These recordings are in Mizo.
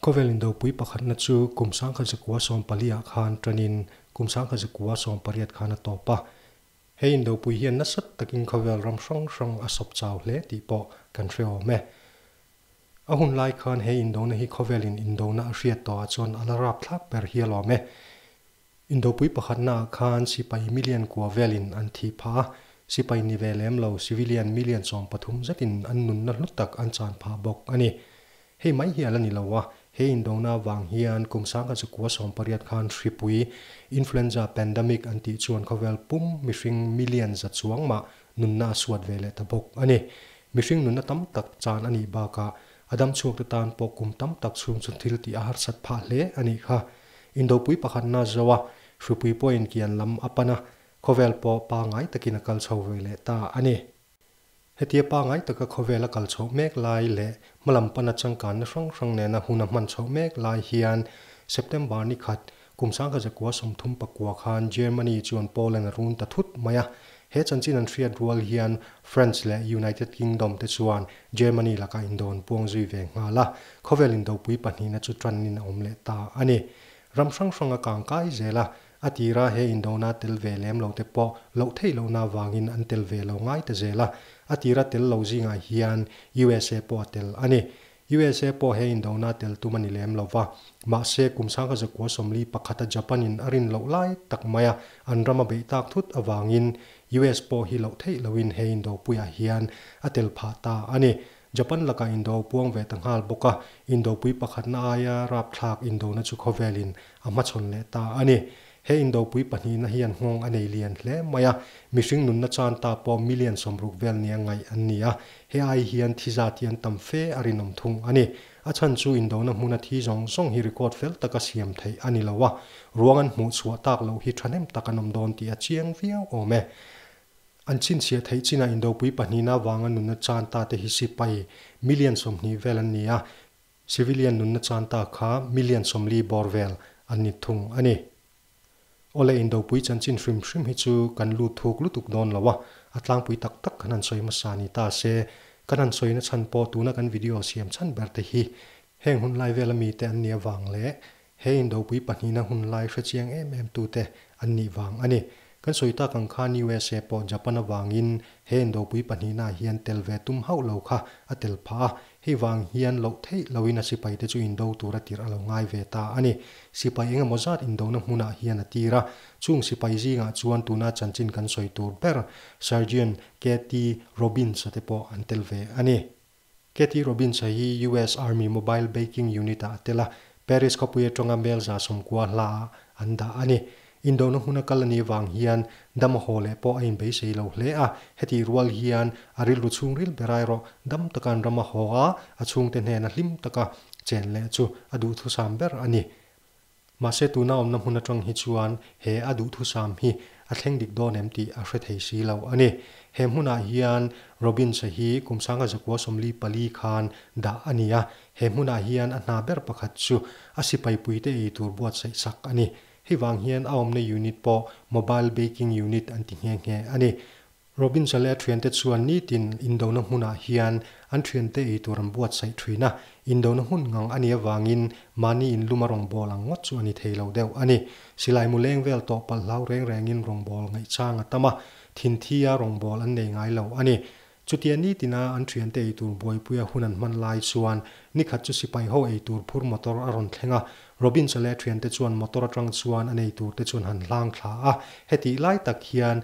Khawvel indopui pakhatna chu kum sangkhat zakua sawm pali ah khan tanin kum sangkhat zakua sawm pariat khan a tawp a. He indopui hian nasat takin khawvel ram hrang hrang a sawp chau hle tih pawh kan hreawm e. A hun lai khan he indona hi khawvelin indona a hriat tawh ah chuan a la rapthlak ber hial awm e. Indopui pakhatna ah khan sipai million kua vel in an thih phah a, sipai ni ve lem lo civilian million sawm pathum zet in an nunna hlut tak an chan phah bawk a ni. Hei mai hi a la ni lo a, he indona vang hian kum sangha chu kua sawm pariat khan hripui, influenza pandemic an tih chuan khawvel pum mihring million za chuang mah nunna a suat ve leh ta bawk a ni. Mihring nunna tam tak chan a nih bak ah a dam chhuak te tan pawh kum tam tak chhung chu thil tih a harsat phah hle a nih kha. Indopui pakhat na zo a, Hrupui pawhin kian lam a pan a, khawvel pawh pangai takin a kal chho ve leh ta a ni. Hetia pangai taka khawvel a kal chho mek lai leh hmalam pana changkanna hrang hrang nena hun a hman chho mek lai hian September ni khat, kum sangha zakua sawmthum pakua khan Germany chuan Poland a run ta thut mai a, He chanchin an hriat rual hian France leh United Kingdom te chuan Germany laka indawn puang zui ve nghal a, khawvel indopui pahnihna chu ṭannin a awm leh ta a ni. Ram hrang hrang a kang kai zel a, a tira he indona tel ve lem lo te pawh loh theih lohna vangin an tel ve lo ngai ta zel a, a tira tel lo zingah hian usa pawh a tel a ni. Usa pawh he indona tel tum a ni lem lo va, mahse kum sang kha zakua sawmli pakhat a Japan in a rin loh lai tak mai a, an ram a beih tak thut avangin US pawh hi loh theih lo in he Indopuia ah hian a tel phah ta a ni. Japan lakah Indo a puang ve ta nghal bawk a, Indopui pakhatna aia rapthlak indona chu khawvel in a hmachhawn leh ta a ni. He Indopui pahnihna hian nghawng a nei lian hle mai a, mihring nunna chan ta pawh million sawmruk vel nia ngaih an ni a. He ai hian thi zat hian tam fe a rinawm thung a ni. A chhan chu indona hmuna thi zawng zawng hi record fel taka siam theih a ni lo a, ruang an hmuh chhuah tak loh hi thahnem tak a nawm dawn tih a chiang viau awm e. An chhinchhiah theih chinah Indopui pahnihna avanga nunna chan ta te hi sipai million sawmhnih vel an ni a, Civilian nunna chuan ta kha million sawmli bawr vel an ni thung a ni. Awle Indopui chanchin hrim hrim hi chu kan lut thuk lutuk dawn lo a, a tlangpui tak tak khan an sawi hmasa ni ta se, kan han sawi nachhan pawh tuna kan video siam chhan berte hi heng hunlai vela mite an ni avang leh He Indopui pahnihna hun lai hre chiang em em tu te an nih vang a ni. Kan sawi tak ang khan usa pawh Japan avangin he Indopui pahnihnaah hian tel ve tum hauh lo kha a tel phah a, hei vang hian loh theih loin a sipai te chu indo tur a tirh a lo ngai ve ta a ni. Sipai engemaw zat indona hmunah hian a tir a, chung sipai zingah chuan tuna chanchin kan sawi tur ber Sergeant Kathy Robinsa te pawh an tel ve a ni. Kathy Robinsa hi US Army Mobile Baking Unit-ah a tel a, Paris khawpui aṭanga Hmelza sawmkua hla-ah an dah a ni. Indona hmun a kal a nih vang hian dam a haw leh pawh a inbeisei lo hle a, heti rual hian a rilru chhungril ber airawh dam taka an ram a haw a, a chhungte hnena hlim taka chen leh chu a duhthusam ber a ni. Mahse tuna awmna hmun atang hi chuan he a duhthusam hi a thleng dik dawn em tih a hre thei si lo a ni. He hmunah hian Robinsa hi Kumsanga Zakua Sawmli pali khan dah a ni a, he hmunah hian a hna ber pakhat chu a sipaipui te ei tur buatsaih sak a ni. Hi vang hian a awmna unit pawh Mobile Baking Unit an ti nghe nghe a ni. Robinson leh a thiante chuan nitin indona hmunah hian an thiante eitur an buatsaih thin a, indona hmun ngang a nih avangin mahni in luma rawngbâwl ang ngawt chu a ni thei lo deuh a ni. Silai mu leng vel tawh palh hlau reng rengin rawngbâwl ngaihchang a tam a, thinthia rawngbâwl an nei ngai lo a ni. Chutia nitina an thiante eitur buaipuia hun an hman lai chuan nikhat chu sipai ho eitur phur motor a rawn thleng a, Robinson leh a thiante chuan motor aṭang chuan a nei turte chuan han hlâng thla a, hetih lai tak hian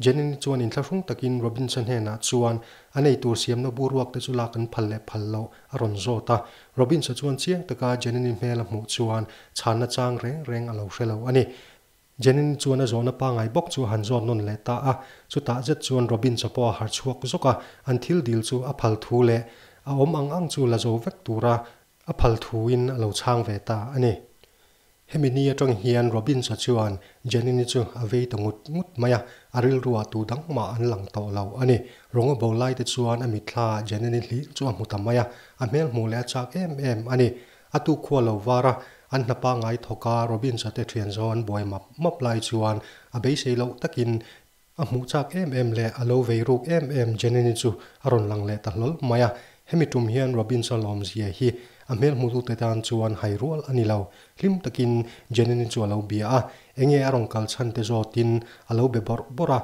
Jenny-ni chuan intla hrung takin Robinson hnenah chuan a nei tur siamna buruakte chu lak an phal leh phal loh a rawn zawt a. Robinsa chuan chiang taka Jenny-ni hmel a hmuh chuan chhanna chang reng reng a lo hre lo a ni. Jenny-ni chuan a zawhna pangai bawk chu a han zawt nawn leh ta a, chutah zet chuan Robinsa pawh a harh chhuak zawk a, an thil dil chu a phal thu leh a awm ang ang chu la zo vek tura a phal thuin a lo chhang ve ta a ni. Hemi ni atang hian Robins-a chuan Jenny-ni chu a vei ta ngut ngut mai a, a rilruah tu dang mah an lang tawh lo a ni. Rawng a bo laite chuan a mitthlaah Jenny-ni hling chu a hmu ta mai a, a hmelhmuh leh a chak em em a ni. A tu khua lo vara an hna pangngai thawk a, Robins-a te thian zawn buai map map lai chuan a beisei loh takin, A hmuh chak em em leh a lo vei ruk em em Jenny-ni chu a rawn lang leh ta hlawl mai a. Hemi tum hian Robins-a lawmzia hi a hmel hmutute tan chuan hai rual a ni lo. Hlim takin Jenny-ni chu a lo bia a, enge a rawn kal chhan te zawtin a lo be bawrh bawrh a.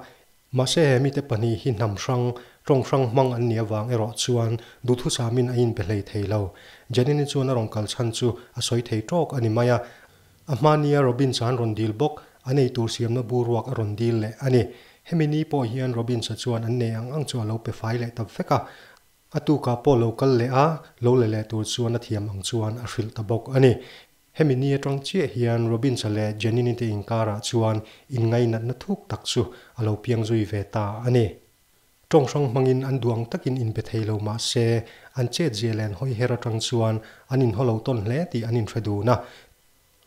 Mahse, he mite pahnih hi hnam hrang, tawng hrang hmang an nih avang erawh chuan duhthu samin a inbe hlei thei lo. Jenny-ni chuan a rawn kal chhan chu a sawi thei tawk a ni mai a. A hma nia Robins an rawn dil bawk, a nei tur siamna bu ruak a rawn dil leh a ni. Hemi ni pawh hian Robins-a chuan an nei ang ang chu a lo pe fai leh tam fek a, a tukah pawh lo kal leh a, lo la leh tur chuan a thiam ang chuan a hrilh ta bawk a ni. Hemi ni atang chiah hian Robins-a leh Janine te inkarah chuan inngainatna thuk tak chu a lo piang zui ve ta a ni. Tawng hrang hmangin an duang takin in be thei lo mah se, an chet Zialen hawi her atang chuan an in haw lo tawn hle tih an in hre dun a.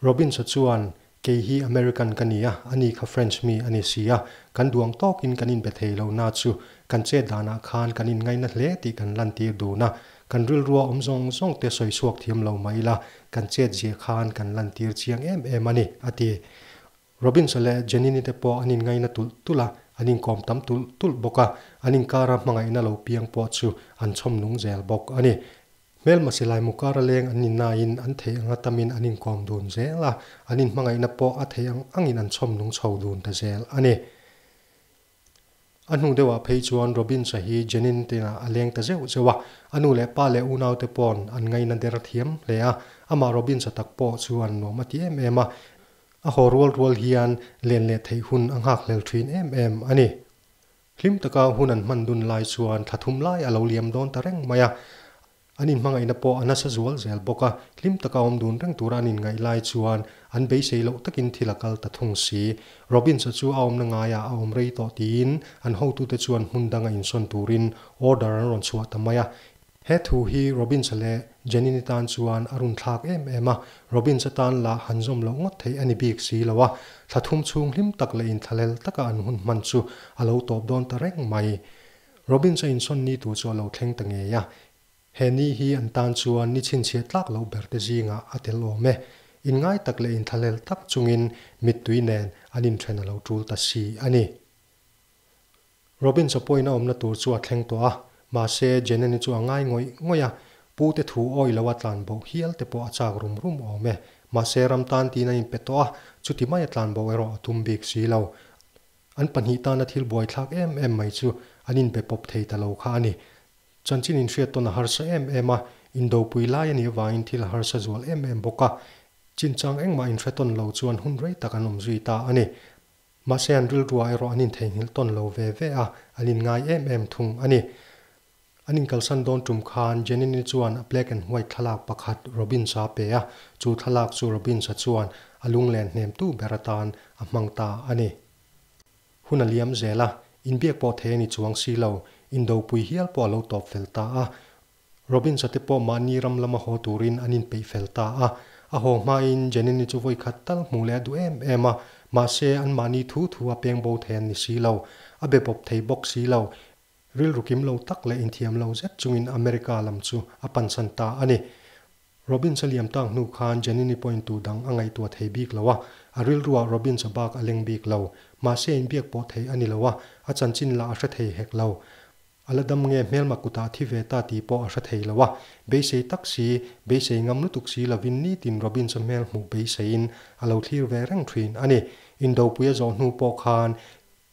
Robinsa chuan, Kei hi American ka ni a, ani kha French mi a ni si a, kan duang tawkin kan in be thei lo na chu kan chet danah khan kan in ngaina hle tih kan lantir dun a, kan rilrua awm zawng zawng te sawi chhuak thiam lo mai ila kan chet zia khan kan lantir chiang em em a ni, a ti. Robins-a leh Jenini te pawh an inngaina tulh tulh a, an inkawm tam tulh tulh bawk a, an inkara hmangaihna lo piang pawh chu an chhawm nung zel bawk a ni. Hmelmasi Laimu kara leng an ni nain an thei anga tamin an inkawm dun zel a, an inhmangaihna pawh a thei ang angin an chhawm nung chho dun ta zel a ni. A hnung deuhah phei chuan Robins-a hi Jenny-in tinah a leng ta zeuh zeuh a, a nu leh pa leh unaute paw'n an ngaina der thiam hle a, amah Robins-a tak pawh chu an nuam a ti em em a, a haw rual rual hian len leh theih hun a nghak hlel thin em em a ni. Hlim taka hun an hman dun lai chuan thlathum lai a lo liam dawn ta reng mai a, An inhmangaihna pawh a nasa zual zel bawk a, hlim taka awm dun reng tura an inngaih lai chuan an beisei loh takin thil a kal ta thung si. Robins-a chu a awmna ngaiah a awm rei tawh tiin an hotute chuan hmun danga insawn turin order an rawn chhuah ta mai a. He thu hi Robins-a leh Jenny-ni tan chuan a run thlak em em a, Robins atan lah han zawm loh ngawt theih a ni bik si lo a, thlathum chhung hlim tak leh inthlahlel taka an hun hman chu a lo tawp dawn ta reng mai. Robin chu insawn ni tur chu a lo thleng ta ngei a, he ni hi an tan chuan ni chhinchhiah tlak loh ber te zingah a tel awm e. Inngai tak leh inthlahlel tak chungin mittui nen an inthen a lo tul ta si a ni. Robin chaw pawhin a awmna tur chu a thleng tawh a, mahse Jenny-ni chu a ngai ngawih ngawih a, pu te thu awi lo a tlan boh hial te pawh a chak rum rum awm e. Mahse ram tan tiin an inpe tawh a, chuti mai a tlan boh erawh a tum bik si lo. An pahnih tana thil buaithlak em em mai chu an inbe pawp thei ta lo kha a ni. Chanchin inhriattawn a harsa em em a, indopui lai a nih avangin thil a harsa zual em em bawk a. Chinchang engmah inhretawn lo chuan hun rei tak an awm zui ta a ni. Mahse an rilrua erawh an intheihnghilh tawn lo ve ve a, an inngai em em thung a ni. An inkalsan dawn tum khan Jenini chuan black and white thlalak pakhat Robins-a pe a, chu thlalak chu Robins-a chuan a lunglen hnem tu ber atan a hmang ta a ni. Hun a liam zel a, inbiak pawh thei a ni chuang si lo, indopui hial pawh a lo tawp fel ta a. Robins-a te pawh mahni ram lama haw turin an inpeih fel ta a. A haw hmain Jenini chu vawikhat tal hmuh leh a duh em em a, mahse an mahni thu thu a pengbo thei an ni si lo, a be bawp thei bawk si lo, Rilru kim lo tak leh inthiam lo zet chungin America lam chu a pansan ta a ni. Robbins a liam tak hnu khan Janine pawhin tu dang a ngaihtuah thei bik lo a. A rilruah Robbins a bak a leng bik lo. Mahse inbiak pawh thei a ni lo a, a chanchin lah a hre thei hek lo. A la dam nge hmelma kutah thi ve ta tih pawh a hre thei lo a. Beisei tak si, beisei ngam lutuk si lovin nitin Robbins a hmel hmuh beiseiin a lo thlir ve reng thin a ni. Indopuia zawh hnu pawh khan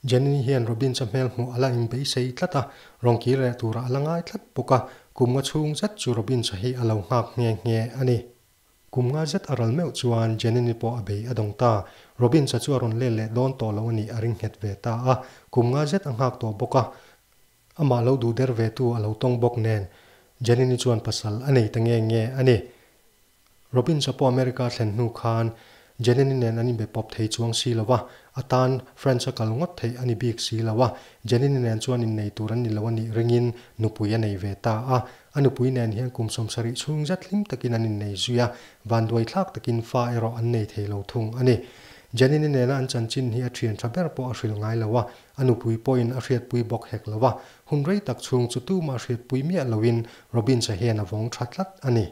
Jenny hian Robin ca hmel hmuh a la in beisei tlat a, rawn kir reh turah a la ngai tlat bawk a, kum nga chhung zet chu Robin ca hi a lo nghak nghe nghe a ni. Kum nga zet a ral meuh chuan Jenny-ni pawh a bei a dawng ta, Robin ca chu a rawn lel leh dawn tawh lo a nih a ring nghet ve ta a, kum nga zet a nghak tawh bawk a, Amah lo duh der ve tu a lo tawng bawk nen Janini chuan pasal a nei ta nge nge a ni. Robbins-a pawh America a thlen hnu khan Janini nen an inbe pawp thei chuang si lo va, a tan French-a kal ngawt theih a ni bik si lo a, Janini nen chuan innei tur an ni lo a nih ringin nupui a nei ve ta a. A nupui nen hian kum sawm sarih chhung zet hlim takin an innei zui a, vanduai thlak takin fa erawh an nei thei lo thung a ni. Janini nena an chanchin hi a thian tha ber pawh a hrilh ngai lo a, A nupui pawhin a hriatpui bawk hek lo a, hun rei tak chhung chu tum a hriatpui miah loin Robins-a hian a vawng tha tlat a ni.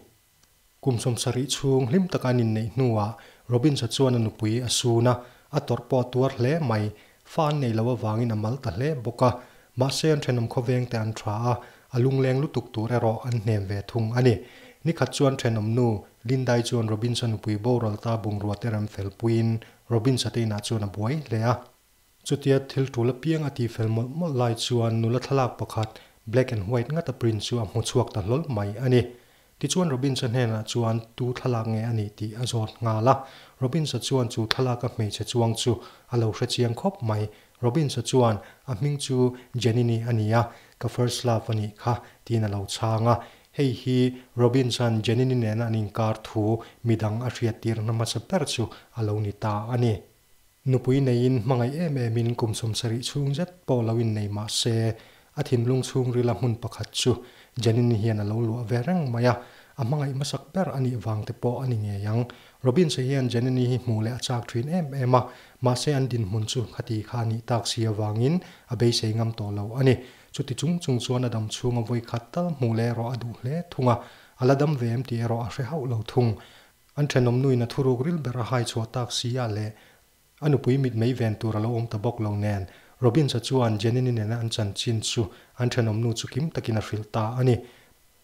Kum sawm sarih chhung hlim taka an inneih hnuah Robins-a chuan a nupui a sun a, a tawrh pawh a tuar hle mai. Fa an neih loh avangin a mal ta hle bawk a, mahse an ṭhenawm khawvengte an ṭha a, a lungleng lutuk tur erawh an hnem ve thung a ni. Nikhat chuan ṭhenawmnu Linda-i chuan Robins-a nupui boral ta bungrua te rem fel puiin Robins-a te inah chuan a buai hle a. Chutia thil tul apiang a ti fel mawlh mawlh lai chuan nula thlalak pakhat black and white ngata print chu a hmu chhuak ta hlawl mai a ni. Tichuan Robinsa hnenah chuan tu thlalak nge a ni tih a zawt nghal a, Robinsa chuan chu thlalaka hmeichhe chuang chu a lo hrechiang khawp mai. Robinsa chuan, A hming chu Janini a ni a, ka first love a nih kha, tiin a lo chhang a. Hei hi Robinsa'n Janini nena an inkar thu midang a hriattirna hmasa ber chu a lo ni ta a ni. Nupui neiin hmangaih em emin kum sawm sarih chhung zet pawh lo innei mah se, a thinlung chhungrila hmun pakhat chu Janine hian a lo luah ve reng mai a, a hmangaih hmasak ber a nih vang te pawh a ni ngei ang. Robins-a hian Janine hi hmuh leh a chak thin em em a, mahse an dinhmun chu khati kha a nih tak si avangin a beisei ngam tawh lo a ni. Chuti chung chung chuan a dam chhunga vawi khat tal hmuh leh erawh a duh hle thung a, a la dam ve em tih erawh a hre hauh lo thung. An thenawm nuin a thuruk ril ber a hai chhuah tak siah leh a nupui mitmei ven tur a lo awm ta bawk lo nen Robins-a chuan Jenny-ni nena an chanchin chu an thenawm nu chu kim takin a hrilh ta a ni.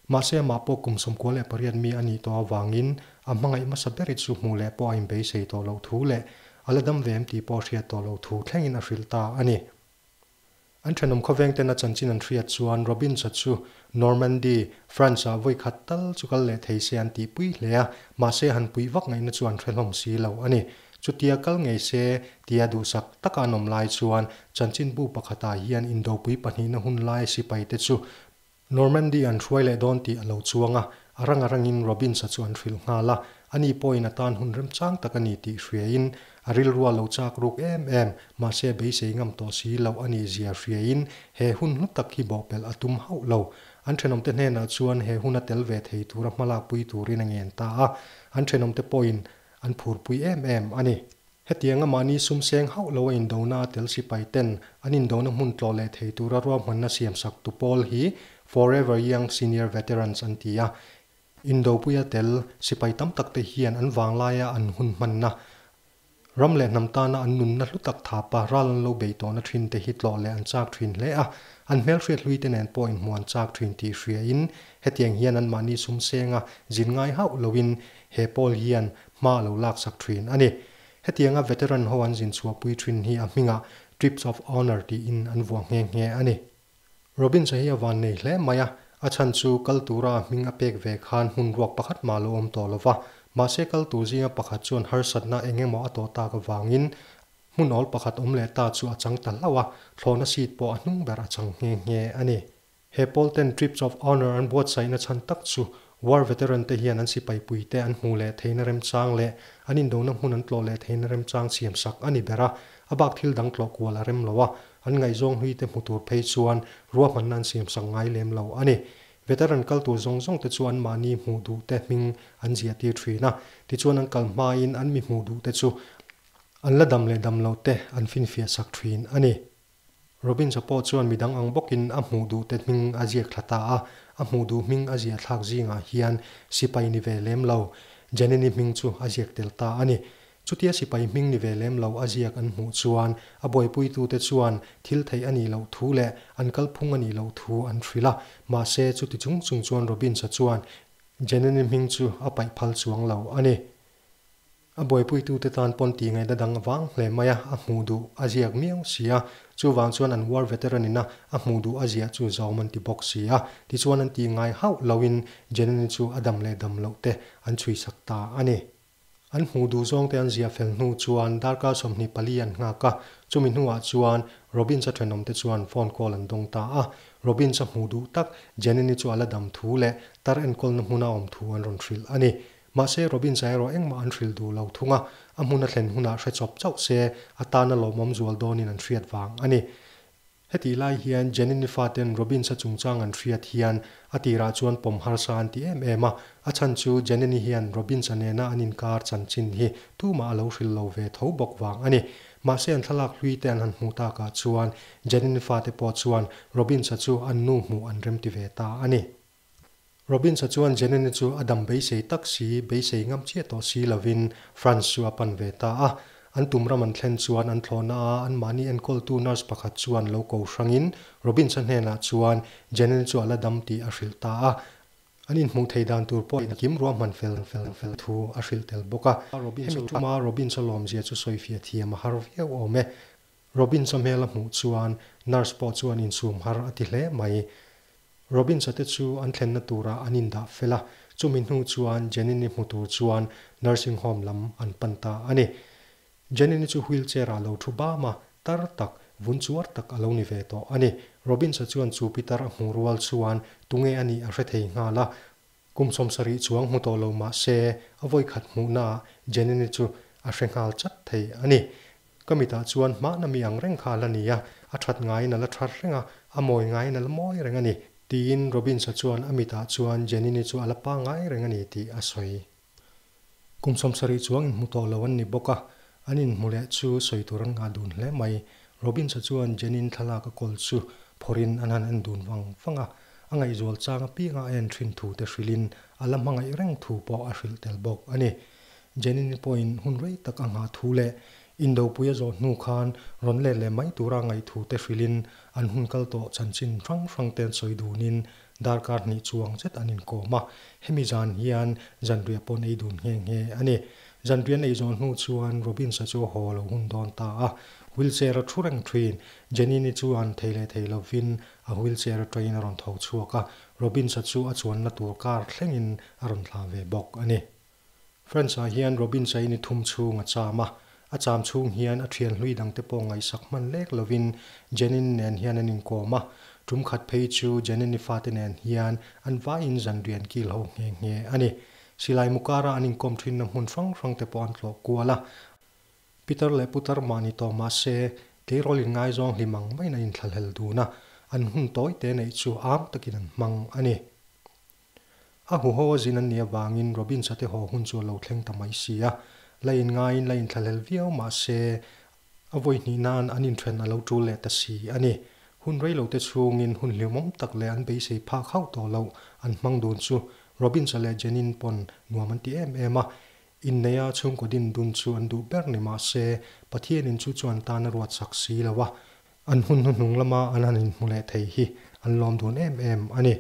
Mahse amah pawh kum sawmkua leh pariat mi a nih tawh avangin a hmangaih hmasa ber i chu hmuh leh pawh a inbeisei tawh loh thu leh a la dam ve em tih pawh a hriat tawh loh thu thlengin a hrilh ta a ni. An thenawm khawveng ten a chanchin an hriat chuan Robinsa chu Normandy, France ah vawikhat tal chu kal leh thei se an tih pui hle a, mahse han puih vak ngaihna chu an hrehlawm si lo a ni. Chutia kal ngei se tia duhsak taka an awm lai chuan chanchin bu pakhatah hian Indopui pahnihna hun lai sipai te chu Normandy an hruai leh dawn tih a lo chuang a, a rang a rangin Robins-a chu an hrilh nghal a, a ni pawhin a tan hun remchang tak a ni tih hriain a rilrua lo chak ruk em em, mahse beisei ngam tawh si lo a ni zia hriain he hun hlu tak hi bawhpelh a tum hauh lo. An thenawmte hnenah chuan he hun a tel ve thei tura hmalak pui turin a ngen ta a, an thenawmte pawhin an phurpui em em a ni. Hetianga mahni sumseng hauh lo a indona a tel sipai ten an indona hmun tlawh leh thei tura ruahmanna siam sak tu pawl hi Forever Young Senior Veterans an ti a. Indopuia tel sipai tam tak te hian an vanglaia an hun hmanna, ram leh hnam tana an nunna hlutak thapa ral an lo bei tawhna thin te hi tlawh leh an chak thin hle a, an hmelhriat hlui te nen pawh inhmuh an chak thin tih hria in hetiang hian an mahni sumsenga zin ngai hauh lo in he pawl hian hma lo laksak thin a ni. Hetianga veteran ho an zin chhuahpui thin hi a hmingah Trips of Honour tiin an vuah nghe nghe a ni. Robins-a hi a van nei hle mai a, a chhan chu kal tura a hming a pek ve khan hmun ruak pakhat mah lo awm tawh lo va, mahse kal tur zinga pakhat chuan harsatna eng emaw a tawh tak avangin hmun awl pakhat awm leh ta chu a chang ta hlauh a, thlawhna seat pawh a hnung ber a chang nghe nghe a ni. He Pawlten Tripts of Honour an buatsaihna chhan tak chu War Veteran te hian an sipaipui te an hmuh leh theihna remchang leh an indona hmun an tlawh leh theihna remchang siam sak a ni ber a, a bak thil dang tlawh kual a rem lo a, an ngaihzawng hlui te hmu tur phei chuan ruahmanna an siam sak ngai lem lo a ni. Veteran kal tur zawng zawng te chu an mahni hmuh duh te hming an ziahtir thin a, tichuan an kal hmain an mi hmuh duh te chu an la dam leh dam lo te an finfiah sak thin a ni. Robins-a pawh chuan midang ang bawkin a hmuh duhte hming a ziak thla ta a, a hmuh duh hming a ziah thlak zingah hian sipai ni ve lem lo Janine-i hming chu a ziak tel ta a ni. Chutia sipai hming ni ve lem lo a ziak an hmuh chuan a buaipuitute chuan thil theih a nih loh thu leh an kalphung a nih loh thu an hrilh a, mahse chuti chung chung chuan Robins-a chuan Janine-i hming chu a paih phal chuang lo a ni. A buaipuitute tan pawn tih ngaihna dang a vang hle mai a, a hmuh duh a ziak miau si a. Chuvang chuan an war veteran-ina a hmuh duh a ziah chu zawm an ti bawk si a, tichuan an tih ngai hauh loin Janani chu a dam leh dam loh te an chhuisak ta a ni. An hmuh duh zawngte an ziah fel hnu chuan darkar sawmhnih pali an nghak a, chumi hnuah chuan Robins-a thenawmte chuan phone call an dawng ta a. Robins-a hmuh duh tak Janani chu a la dam thu leh tar enkawlna hmuna awm thu an rawn hrilh a ni. Mahse, Robin zairaw engmah an hrilh duh lo thung a, a hmun a thlen hunah hre chawp chauh se a tan a lawmawm zual dawnin an hriat vang a ni. Heti lai hian Jenny Nifa ten Robin sa chungchang an hriat hian a tirah chuan pawm harsa an ti em em a, a chhan chu Jenny-ni hian Robin sa nena an inkar chanchin hi tumah a lo hrilh lo ve tho bawk vang a ni. Mahse, an thlalak hlui te an han hmuh takah chuan Jenny Nifa te pawh chuan Robin sa chu an nu hmuh an remti ve ta a ni. Robbins-a chuan Jenny-ni chu a dam beisei tak si, beisei ngam chiah tawh si lovin Franz chu a pan ve ta a. An tum ram an thlen chuan an thlawhna a anmahni enkawltu nurse pakhat chuan lo ko hrangin Robbins-a hnenah chuan Jenny-ni chu a la dam tih a hrilh ta a. An inhmuh thei dan tur pawh a kim ruah hman fel fel fel thu a hrilh tel bawk a. Hemi tuma Robbins-a lawmzia chu sawifiah thiam a har viau awm e. Robin chawhmel a hmuh chuan nurse pawh chuan insum har a ti hle mai. Robin chate chu an thlenna turah an indah fel a, chumi hnu chuan Janine-i hmu tur chuan nursing home lam an pan ta a ni. Janine-i chu wheelchair ah lo thu bam a, tar tak, vun chuar tak a lo ni ve tawh a ni. Robin cha chuan chu Peter a hmuh rual chuan tunge a nih a hre thei nghal a, Kum sawm sarih chuang hmu tawh lo mahse, a vawikhat hmuhnaah Jenny-ni chu a hre nghal chat thei a ni. Ka mitah chuan hmahna mi ang reng kha a la ni a, a that ngaiin a la that reng a, a mawi ngaiin a la mawi reng a ni, tiin Robins-a chuan a mitah chuan Jenny-ni chu a la pa ngai reng a ni tih a sawi. Kum sawm sarih chuang inhmu tawh lo an ni bawk a, an inhmu leh chu sawi tur an ngah dun hle mai. Robins-a chuan Jenny-in thlalak a kawl chu phawrhin an han en dun vang vang a, a ngaihzual chang apiangah a en thin thute hrilhin a la hmangaih reng thu pawh a hrilh tel bawk a ni. Jenny-ni pawhin hun rei tak a nghah thu leh indopui a zawh hnu khan rawn let leh mai tura ngaih thute hrilhin an hun kal tawh chanchin hrang hrangte an sawi dunin Darkar hnih chuang zet an inkawm a, hemi zan hian zanriah paw'n ei dun nghe nghe a ni. Zanriah neih zawng hnu chuan Robins-a chu a haw lo hun dawn ta a, wheelchair a thu reng thin. Jenny-ni chuan thei leh thei lovin a wheelchair atangin a rawn tho chhuak a, Robins-a chu a chuanna tur kar thlengin a rawn thlah ve bawk a ni. France-ah hian Robin Cheney thum chhung a cham a, a cham chhung hian a thian hlui dangte pawh ngaihsak hman lek lovin Janine nen hian an inkawm a, tum khat phei chu Janine-i fate nen hian an vaiin zan rian kil ho nghe nghe a ni. Silai Mukara an inkawm thinna hmun hrang hrangte pawh an tlawh kual a, Pitar leh Putar mah ni tawh mah se, keirawlin ngaizawng hlim ang maiin an inthlalhel dun a, an hun tawi te neih chu âwm takin an hmang a ni. A hu haw a zin an nih avangin Robins-a te haw hun chu a lo thleng ta mai si a, la in ngaiin la in thlahlel viau mah se a vawi hnih nan an in ṭhen a lo ṭul leh ta si a ni. Hun rei lo te chhungin hun hliumawm tak leh an beisei phak hauh tawh loh an hmang dun chu Robins-a leh Jenny-in pawn nuam an ti em em a, inneia chhungkaw din dun chu an duh ber ni mah se Pathianin chu chuan tan a ruat chak si lo a, an hun hnu hnung lama an han in hmu leh thei hi an lawm dun em em a ni.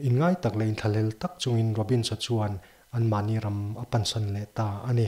In ngai tak leh in thlalel tak chungin Robins-a chuan an mahni ram a pansan leh ta a ni.